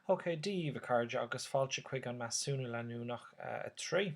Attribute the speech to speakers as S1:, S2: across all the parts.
S1: OK, daoibh, a chairde, agus fáilte chuig an Measúnú Leanúnach 3.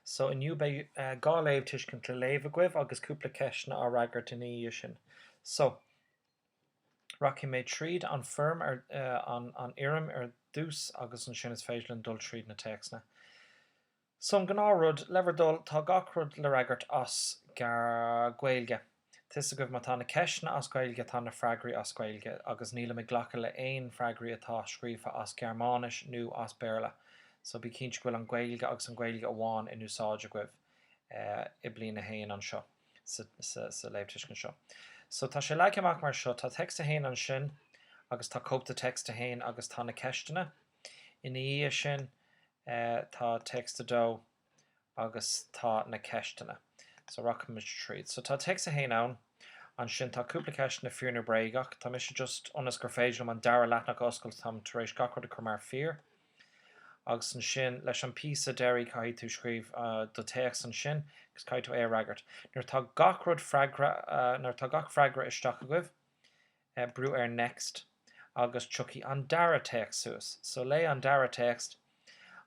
S1: So, inniu beidh dhá léamhthuiscint le léamh agaibh agus cúpla ceisteanna á fhreagairt ina dhiaidh sin. So, rachaidh mé tríd an foirm, an fhoirm ar dtús agus ansin is féidir linn dul tríd na téacsanna. So an gnáthrud, le bhur dtoil, tá gach rud le fhreagairt as Gaeilge. Tá a fhios agaibh má tá na ceisteanna as Gaeilge tá na freagraí as Gaeilge agus nílim ag glacadh le aon freagraí atá scríofa as Gearmáinis nú as Béarla so bí cinnte go bhfuil an Gaeilge agus an Ghaeilge amháin in úsáid agaibh i bliain a haon anseo sa léamhthuiscint seo. So tá sé leagtha amach mar seo, tá text a haon ansin agus tá cúpla text a haon agus tá na ceisteanna. Ina dhiaidh sin, tá text 2 agus tá na ceisteanna. So, rachaimid tríd. So, tá text 1 ann. Ansin, tá cúpla ceisteanna, fíor nó bréagach. Tá mise just, ionas gur féidir liom an dara leathnach a oscailt, táim tar éis gach rud a chur mar fíor. Agus ansin, leis an píosa deiridh, caithfidh tú scríobh do théacs ansin agus caithfidh tú é a fhreagairt. Nuair atá gach rud freagra, nuair atá gach freagra isteach agaibh, Brúigh ar next agus tiocfaidh an dara téacs suas. So léigh an dara téacs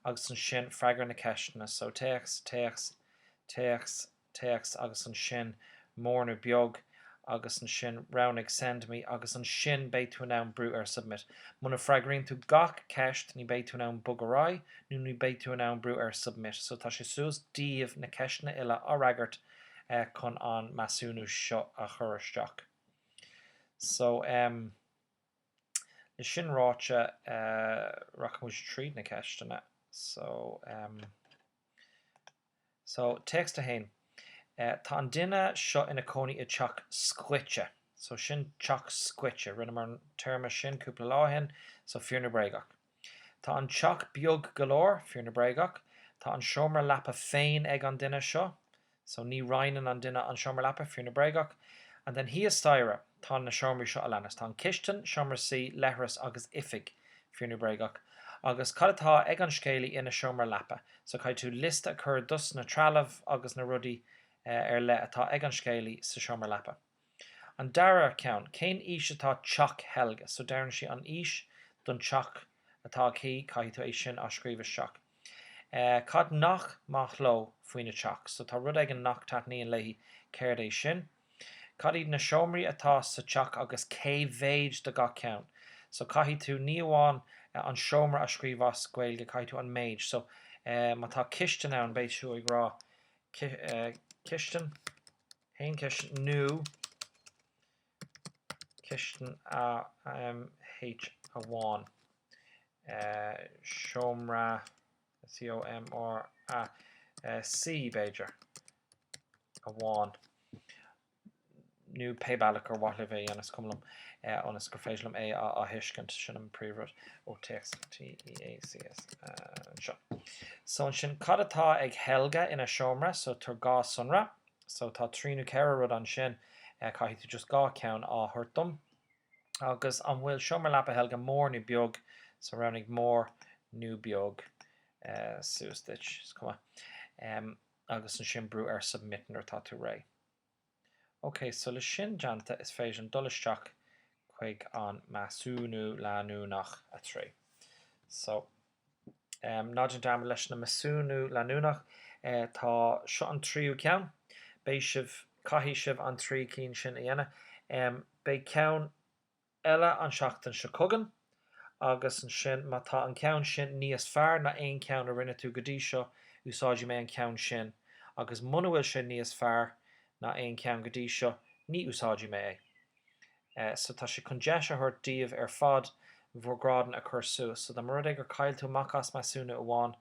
S1: agus ansin freagair na ceisteanna. So téacs, téacs, téacs, téacs agus ansin mór nó beag agus ansin roghnaigh send me agus ansin beidh tú in ann brú ar submit. Muna bhfreagraíonn tú gach ceist ní bheidh tú in ann bog ar aghaidh nó ní bheidh tú in ann brú ar submit. So tá sé suas daoibh na ceisteanna uile á fhreagairt chun an measúnú seo a chur isteach. So, em. le sin ráite, rachaidh muid tríd na ceisteanna. So, em. So, téacs 1. Tá an duine seo ina cónaí i dteach scoite. So, sin teach scoite. Rinneamar an téarma sin cúpla lá ó shin. So, fíor nó bréagach? Tá an teach beag go leor, fíor nó bréagach. Tá an seomra leapa féin ag an duine seo, so ní roinneann an duine an seomra leapa, fíor nó bréagach. And then thíos staighre, tá na seomraí seo a leanas. Tá an chistin, seomra suí, leithreas agus oifig, fíor nó bréagach. Agus cad atá ag an scéalaí ina sheomra leapa? So caithfidh tú liosta a chur dos na trealamh agus na rudaí ar leith atá ag an scéalaí sa seomra leapa. An dara ceann, cén aois atá teach Helga? So deireann sí an aois don teach atá aici, caithfidh tú é sin a scríobh isteach. Cad nach maith leo faoina teach? So tá rud éigin nach taitníonn léi, céard é sin? Cad iad na seomraí atá sa teach agus cé mhéid de gach ceann? So caithfidh tú ní amháin an seomra a scríobh as Gaeilge, caithfidh tú an méid. So má tá cistin ann, beidh tú ag rá cistin. haon cheist nó cistin M H amháin seomra S E O M R A C b'fhéidir amháin nó pé bealach gur mhaith libh é ionas gur cuma liom ionas gur féidir liom é a thuiscint sin an príomhrud ó téacs T E A C S anseo. So ansin cad atá ag Helge ina seomra so tabhair dhá sonra So tá trí nó ceithre rud ansin. Caithfidh tú just dhá cheann a thabhairt dom. Agus an bhfuil seomra leapa Helge mór nó beag? So roghnaigh mór nó beag. Suas duit. Is cuma. Agus ansin brú ar submit nuair atá tú réidh. OK, so leis sin déanta, is féidir liom dul isteach chuig an measúnú leanúnach 3. So Ná déan dearmad, leis na measúnú leanúnach, tá seo an tríú ceann. Beidh sibh, caithfidh sibh an trí cinn sin a dhéanamh. Beidh ceann eile an seachtain seo chugainn agus ansin, má tá an ceann sin níos fearr ná aon cheann a rinne tú go dtí seo, úsáidfidh mé an ceann sin agus muna bhfuil sé níos fearr ná aon cheann go dtí seo, ní úsáidfidh mé é. so tá sé chun deis a thabhairt daoibh ar fad bhur ngrádanna a chur suas, so dá mba rud é gur chaill tú amach as measúnú amháin,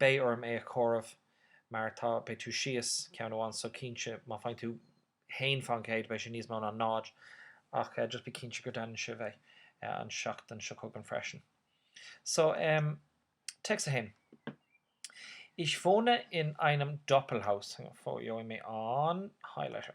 S1: beidh orm é a chomhaireamh mar atá, beidh tú síos ceann amháin so cinnte má faigheann tú 1 faoin gcéad beidh sé níos mó ná 0 ach just bí cinnte go deineann sibh é an seachtain seo chugainn freisin. So em téacs 1. Ich wohne in einem Doppelhaus. Gheobhaidh mé an highlighter.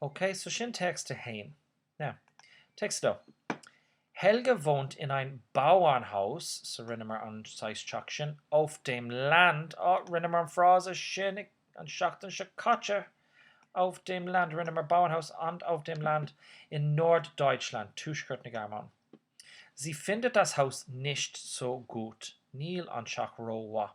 S1: OK, so sin text 1. Now, text 2. Helga wohnt in ein Bauernhaus, so rinneamar an saghas teach sin, auf dem Land, oh, rinneamar an frása sin an seachtain seo caite, auf dem Land, rinneamar Bauernhaus and auf dem Land, in Norddeutschland, tuaisceart na Gearmáine. Sie findet das Haus nicht so gut, níl an teach rómhaith.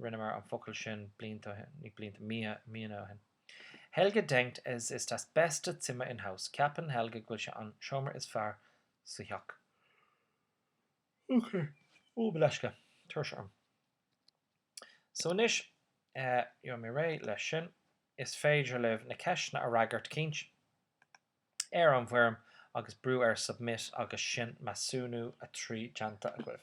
S1: rinneamar an focal sin blianta ó shin, ní blianta, mí, míonna ó shin. Helge denkt, es ist das beste Zimmer im Haus, ceapann Helge go bhfuil sé an seomra is fearr sa theach. Okay. Ó, gabh mo leithscéal. Tuirse orm. So anois, gheobhaidh mé réidh leis sin. Is féidir libh na ceisteanna a fhreagairt, cinnte, ar an bhfoirm agus brú ar submit agus sin measúnú a trí déanta agaibh.